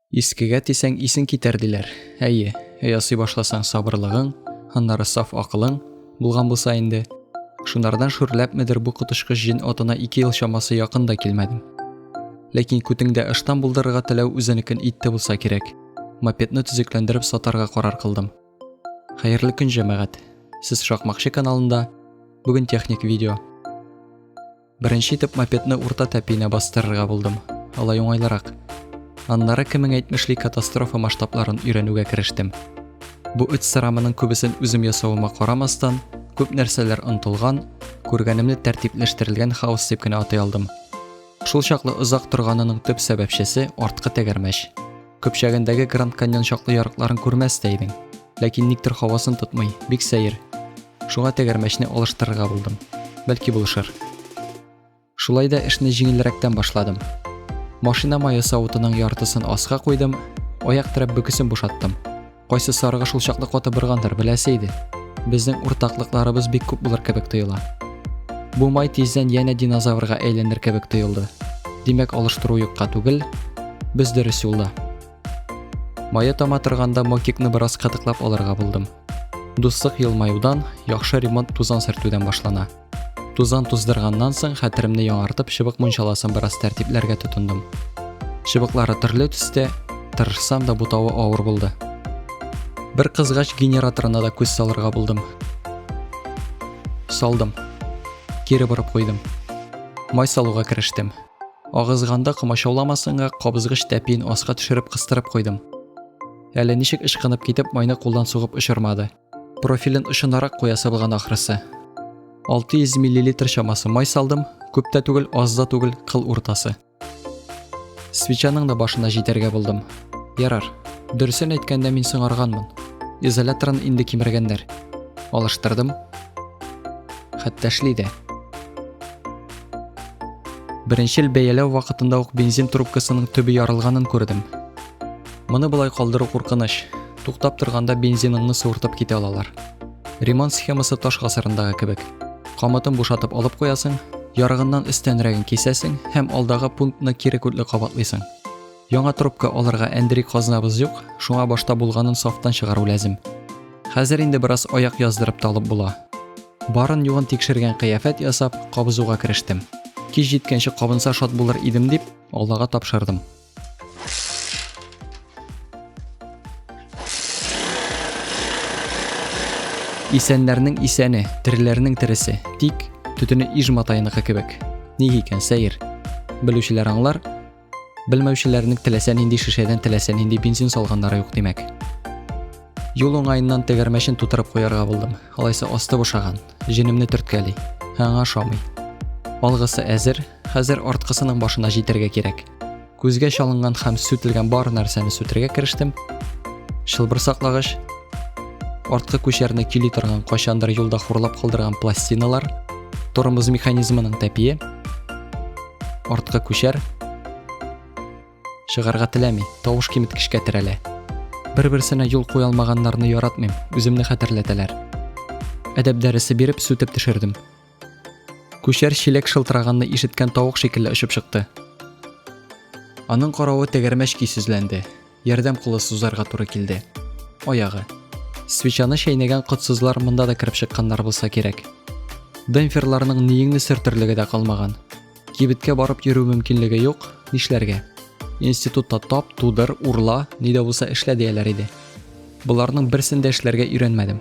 Искегә тисәң исең китәр диләр. Әйе, өй ясый башласаң сабырлыгың, аннары саф акылың булган булса инде. Шунардан шүрләпмедер бу котышкыч җен отына ике ел чамасы якын да килмәдем. Ләкин күтеңдә ыштан булдырырга теләү үзенекен итте булса кирәк. Мопедны төзекләндереп сатарга карар кылдым. Хәерле көн, җәмәгать! Сез Шакмакчы каналында. Бүген техник видео. Беренче итеп мопедны урта тәпиенә бастырырга булдым. Алай уңайлырак. Аннары кемең әйтмешли катастрофа масштабларын өйрәнүгә керештем. Бу үт сырамының күбесен үзем ясавыма карамастан, күп нәрсәләр онтылган, күргәнемне тәртипләштерелгән хаос дип кенә атай алдым. Шул чаклы озак торганының төп сәбәпчесе арткы тәгәрмәч. Көпчәгендәге Гранд Каньон чаклы ярыкларын күрмәс тә идең. Ләкин никтер хавасын тотмый, бик сәер. Шуңа тәгәрмәчне алыштырырга булдым. Бәлки булышыр. Шулай да эшне җиңелрәктән башладым. Машина мае савытының яртысын аска куйдым, аяк терәп бөкесен бушаттым. Кайсы сарыгы шул чаклы каты быргандыр, беләсе иде. Безнең уртаклыкларыбыз бик күп булыр кебек тоела. Бу май тиздән янә динозаврга әйләнер кебек тоелды. Димәк, алыштыру юкка түгел, без дөрес юлда. Мая тама торганда мотикны бераз кытыклап алырга булдым. Дуслык елмаюдан, яхшы ремонт тузан сөртүдән башлана. Тузан туздырганнан соң хәтеремне яңартып чыбык мунчаласын бераз тәртипләргә тотындым. Чыбыклары төрле төстә, тырышсам да бутавы авыр булды. Бер кызгач генераторына да күз салырга булдым. Салдым. Кире борып куйдым. Май салуга керештем. Агызганда комачауламасынга кабызгыч тәпиен аска төшереп кыстырып куйдым. Әле ничек ычкынып китеп майны кулдан сугып очырмады. Профилен очынарак куясы булган ахрысы. 600 миллилитр чамасы май салдым, күп тә түгел, аз да түгел, кыл уртасы. Свечаның да башына җитәргә булдым. Ярар. Дөресен әйткәндә мин соңарганмын. Изоляторын инде кимергәннәр. Алыштырдым. Хәтта эшли дә. Беренчел бәяләү вакытында ук бензин трубкасының төбе ярылганын күрдем. Моны болай калдыру куркыныч. Туктап торганда бензиныңны суыртып китә алалар. Ремонт схемасы таш гасырындагы кебек. Камытын бушатып алып куясың, ярыгыннан өстәнрәген кисәсең һәм алдагы пунктны кире күтле кабатлыйсың. Яңа трубка алырга әндери казнабыз юк, шуңа башта булганын сафтан чыгару ләзем. Хәзер инде бераз аяк яздырып талып була. Барын югын тикшергән кыяфәт ясап, кабызуга керештем. Кич җиткәнче кабынса шат булыр идем дип, Аллага тапшырдым. Исәннәрнең исәне, тиреләрнең тиресе. Тик төтене иж матайныкы кебек. Ни икән сәер? Белүчеләр аңлар. Белмәүчеләрнең теләсә нинди шешәдән теләсә нинди бензин салганнары юк димәк. Юл уңаеннан тегәрмәчен тутырып куярга булдым. Алайса асты бушаган. Җенемне төрткәли. Аңа шамый. Алгысы әзер, хәзер арткысының башына җитәргә кирәк. Күзгә чалынган һәм сүтелгән бар нәрсәне сүтергә керештем. Шылбыр саклагыч, арткы күчәрне кили торган кайчандыр юлда хурлап калдырган пластиналар, тормоз механизмының тәпие, арткы күчәр чыгарга теләми, тавыш киметкечкә терәлә. Бер-берсенә юл куя алмаганнарны яратмыйм, үземне хәтерләтәләр. Әдәп дәресе биреп сүтеп төшердем. Күчәр чиләк шылтыраганны ишеткән тавык шикелле очып чыкты. Аның каравы тәгәрмәч көйсезләнде. Ярдәм кулы сузарга туры килде. Аягы. Свечаны чәйнәгән котсызлар монда да кереп чыкканнар булса кирәк. Демпферларның ниеңне сөртерлеге дә калмаган. Кибеткә барып йөрү мөмкинлеге юк, нишләргә? Институтта тап, тудыр, урла, ни дә булса эшлә дияләр иде. Боларның берсен дә эшләргә өйрәнмәдем.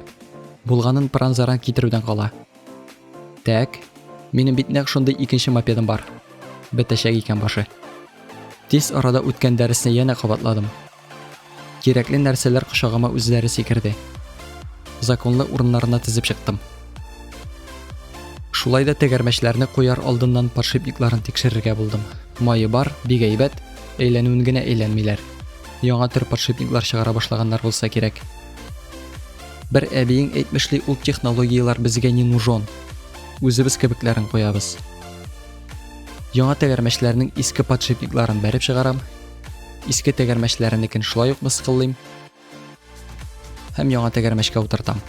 Булганын пыран-заран китерүдән кала. Так, минем бит нәкъ шундый икенче мопедым бар. Бетәчәк икән башы. Тиз арада үткән дәресне янә кабатладым. Кирәкле нәрсәләр кочагыма үзләре сикерде. Законлы урыннарына тезеп чыктым. Шулай да тәгәрмәчләрне куяр алдыннан подшипникларын тикшерергә булдым. Майы бар, бик әйбәт, әйләнүен генә әйләнмиләр. Яңа төр подшипниклар чыгара башлаганнар булса кирәк. Бер әбиең әйтмешли ул технологиялар безгә не нужен. Үзебез кебекләрен куябыз. Яңа тәгәрмәчләрнең иске подшипникларын бәреп чыгарам. Иске тәгәрмәчләренекен шулай ук мыскыллыйм. Һәм яңа тәгәрмәчкә утыртам.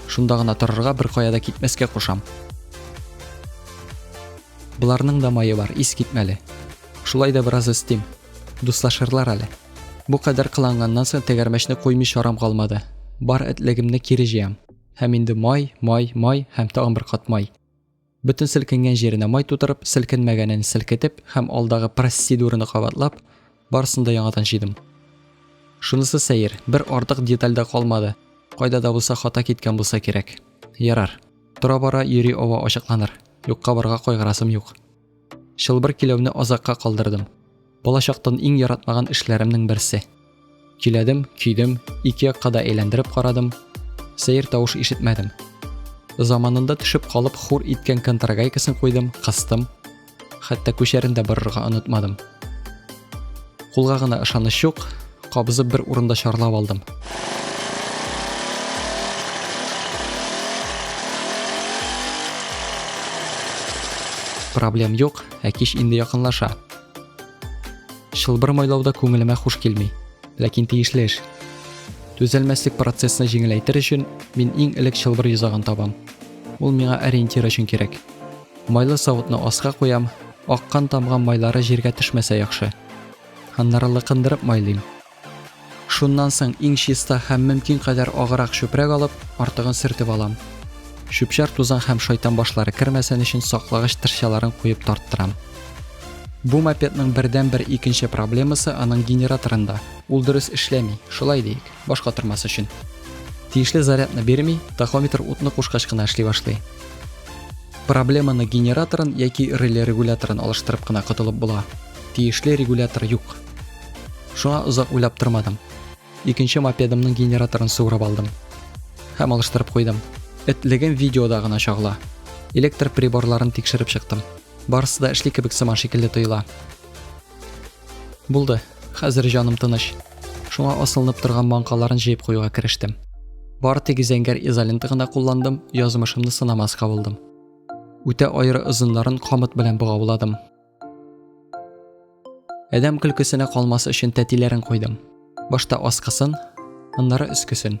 Шунда гына торырга бер кая да китмәскә кушам. Боларның да мае бар, ис китмәле. Шулай да бераз өстим. Дуслашырлар әле. Бу кадәр кыланганнан соң тәгәрмәчне куймый чарам калмады. Бар этлегемне кире җыям. Һәм инде май, май, май һәм тагын бер кат май. Бөтен селкенгән җиренә май тутырып, селкенмәгәнен селкетеп һәм алдагы просцедураны кабатлап, барысын да яңадан җыйдым. Шунысы сәер, бер артык деталь дә калмады. Кайда да булса хата киткән булса кирәк. Ярар. Тора-бара йөри ава ачыкланыр. Юкка барга кайгырасым юк. Чылбыр киләүне азакка калдырдым. Балачактан иң яратмаган эшләремнең берсе. Киләдем, көйдем, ике якка да әйләндереп карадым. Сәер тавыш ишетмәдем. Заманында төшеп калып хур иткән контрагайкасын куйдым, кыстым. Хәтта күчәрен дә борырга онытмадым. Кулга гына ышаныч юк, кабызып бер урында чарлап алдым. Проблем юк, ә кич инде якынлаша. Шылбыр майлауда күңелемә хуш килми, ләкин тиешле эш. Төзәлмәслек процессны җиңеләйтер өчен мин иң элек шылбыр йозагын табам. Ул миңа ориентир өчен кирәк. Майлы савытны аска куям, аккан тамган майлары җиргә төшмәсә яхшы. Аннары лыкындырып майлыйм. Шуннан соң иң чиста һәм мөмкин кадәр агырак чүпрәк алып, артыгын сөртеп алам. Чүп-чар тузан һәм шайтан башлары кермәсен өчен саклагыч тырчаларын куеп тарттырам. Бу мопедның бердәнбер икенче проблемасы аның генераторында. Ул дөрес эшләми, шулай диик. баш катырмас өчен. Тиешле зарядны бирми, тахометр утны кушкач кына эшли башлый. Проблеманы генераторын яки реле регуляторын алыштырып кына котылып була. Тиешле регулятор юк. Шуңа озак уйлап тормадым. Икенче мопедымның генераторын суырып алдым. Һәм алыштырып куйдым. Этлегем видеода гына чагыла. Электр приборларын тикшереп чыктым. Барысы да эшли кебек сыман шикелле тоела. Булды, хәзер җаным тыныч. Шуңа асылынып торган маңкаларын җыеп куюга керештем. Бар тик зәңгәр изолента гына кулландым, язмышымны сынамаска булдым. Үтә аеры озыннарын камыт белән богауладым. Әдәм көлкесенә калмас өчен тәтиләрен куйдым. Башта аскысын, аннары өскесен.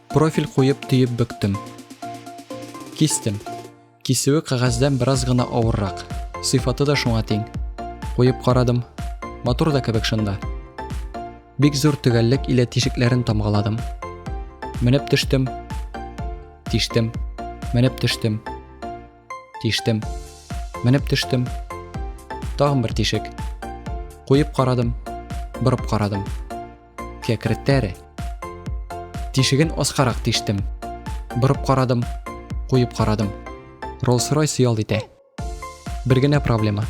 Профиль куеп төеп бөктем. Кистем. Кисүе кәгазьдән бераз гына авыррак. Сыйфаты да шуңа тиң. Куеп карадым. Матур да кебек шында. Бик зур төгәллек илә тишекләрен тамгаладым. Менеп төштем. Тиштем. Менеп төштем. Тиштем. Менеп төштем. Тагын бер тишек. Куеп карадым. Борып карадым. Кәкреттәре. Тишеген аскарак тиштем. Борып карадым, куеп карадым. Роллс-Ройс ял итә. Бер генә проблема.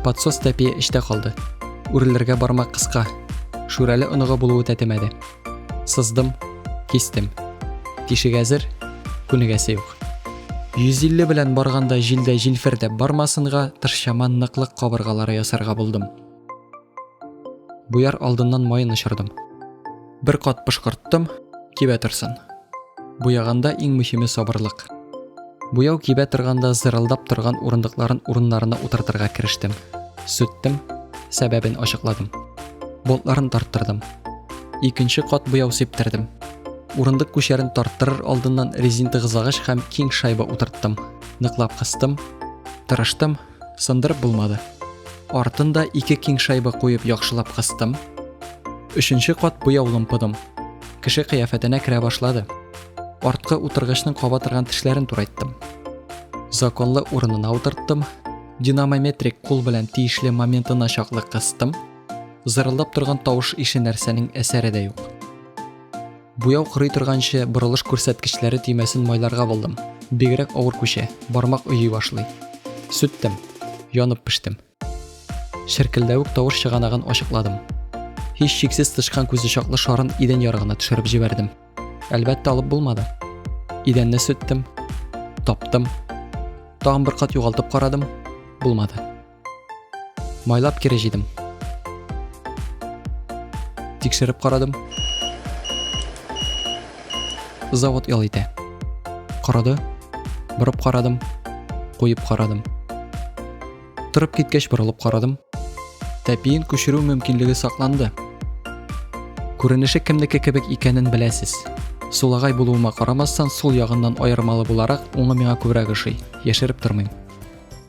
Подсос тәпие эчтә калды. Үрелергә бармак кыска. Шүрәле оныгы булуы тәтемәде. Сыздым, кистем. Тишек әзер, күнегәсе юк. 150 белән барганда җилдә җилфердәп бармасынга, тыршаман ныклык кабыргалары ясарга булдым. Буяр алдыннан майын очырдым. Бер кат пышкырттым, кибә торсын. Буяганда иң мөһиме сабырлык. Буяу кибә торганда зырылдап торган урындыкларын урыннарына утыртырга керештем. Сүттем, сәбәбен ачыкладым. Болтларын тарттырдым. Икенче кат буяу сиптердем. Урындык күчәрен тарттырыр алдыннан резин тыгызлагыч һәм киң шайба утырттым. Ныклап кыстым, тырыштым, Сындырып булмады. Артын да ике киң шайба куеп яхшылап кыстым. Өченче кат буяу лымпыдым. Кеше кыяфәтенә керә башлады. Арткы утыргычның каба торган тешләрен турайттым. Законлы урынына утырттым. Динамометрик кул белән тиешле моментына чаклы кыстым. Зырылдап торган тавыш ише нәрсәнең әсәре дә юк. Буяу кырый торганчы борылыш күрсәткечләре төймәсен майларга булдым. Бигрәк авыр күчә, бармак өйи башлый. Сүттем. Янып пештем. Шеркелдәвек тавыш чыганагын ачыкладым. Һич шиксез тычкан күзе чаклы шарын идән ярыгына төшереп җибәрдем. Әлбәттә алып булмады. Идәнне сүттем. Таптым. Тагын бер кат югалтып карадым. Булмады. Майлап кире җыйдым. Тикшереп карадым. Завод ял итә. Карады. Борып карадым. Куеп карадым. Торып киткәч борылып карадым. Тәпиен күчерү мөмкинлеге сакланды. Күренеше кемнеке кебек икәнен беләсез. Сулагай булуыма карамастан, сул ягыннан аермалы буларак, уңы миңа күбрәк ошый. Яшереп тормыйм.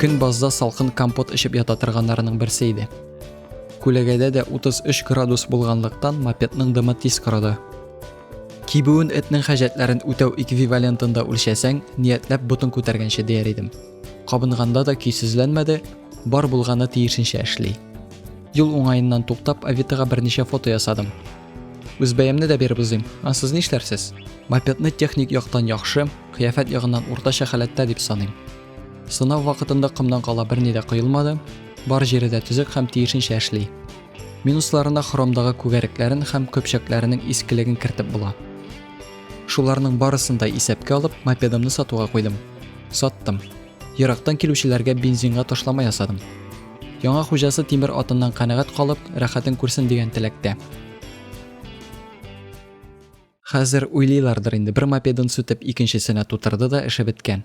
Көн базда салкын компот эчеп ята торганнарының берсе иде. Күләгәдә дә 33 градус булганлыктан мопедның дымы тиз корыды. Кибүен этнең хаҗәтләрен үтәү эквивалентында үлчәсәң, ниятләп ботын күтәргәнче дияр идем. Кабынганда да көйсезләнмәде, бар булганы тиешенчә эшли. Юл уңаеннан туктап, Авитага берничә фото ясадым. Үз бәямне дә биреп узыйм. А сез нишләрсез? Мопедны техник яктан яхшы, кыяфәт ягыннан уртача халәттә дип саныйм. Сынау вакытында комдан кала берни дә коелмады, бар җире дә төзек һәм тиешенчә эшли. Минусларына хромдагы күгәрекләрен һәм көпчәкләренең искелеген кертеп була. Шуларның барысын да исәпкә алып, мопедымны сатуга куйдым. Саттым. Ерактан килүчеләргә бензинга ташлама ясадым. Яңа хуҗасы тимер атыннан канәгать калып, рәхәтен күрсен дигән теләктә. Хәзер уйлыйлардыр инде, бер мопедын сүтеп, икенчесенә тутырды да эше беткән.